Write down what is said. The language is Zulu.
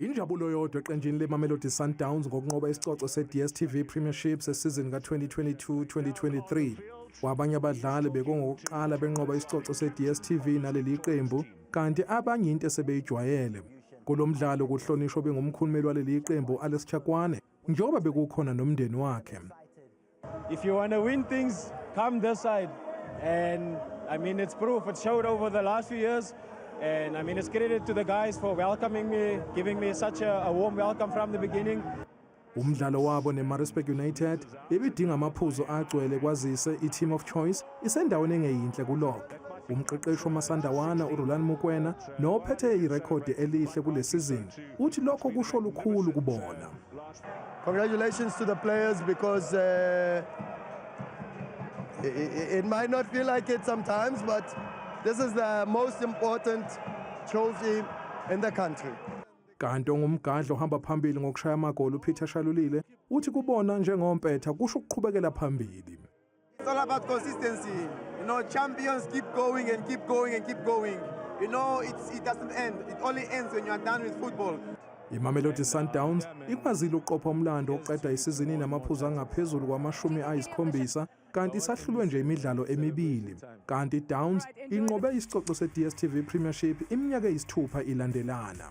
Injabulo yodwa eqenjini leMamelodi Sundowns ngokunqoba isicoco se-DStv Premiership sesizini ka-2022-2023. Kwabanye abadlali bekungokuqala benqoba isicoco se-DStv naleli qembu, kanti abanye into esebeyijwayele. Kulo mdlalo kuhlonishwa obengumkhulumeli waleli qembu u-Alex Chakwane njengoba bekukhona nomndeni wakhe. If you want to win things, come this side. And I mean, it's proof. It showed over the last few years. And I mean, it's credit to the guys for welcoming me, giving me such a, a warm welcome from the beginning. Umdlalo wabo neMaritzburg United bebidinga amaphuzu agcwele kwazise i-team of choice isendaweni engeyinhle kulog. Umqeqeshi wamasandawana uRulan Mukwena nophethe irekhodi elihle kule sizini uthi lokho kusho lukhulu kubona. Congratulations to the players because uh, it, it might not feel like it sometimes, but this is the most important trophy in the country. kanti ongumgadla ohamba phambili ngokushaya amagoli uPeter Shalulile uthi kubona njengompetha kusho ukuqhubekela phambili It's all about consistency. You know, champions keep going and keep going and keep going. You know, it's, it doesn't end. It only ends when you are done with football. imamelodi sundowns ikwazile ukuqopha umlando oqeda isizini namaphuzu angaphezulu kwamashumi ayisikhombisa kanti isahlulwe nje imidlalo emibili kanti downs inqobe isicoco se-dstv premiership iminyaka eyisithupha ilandelana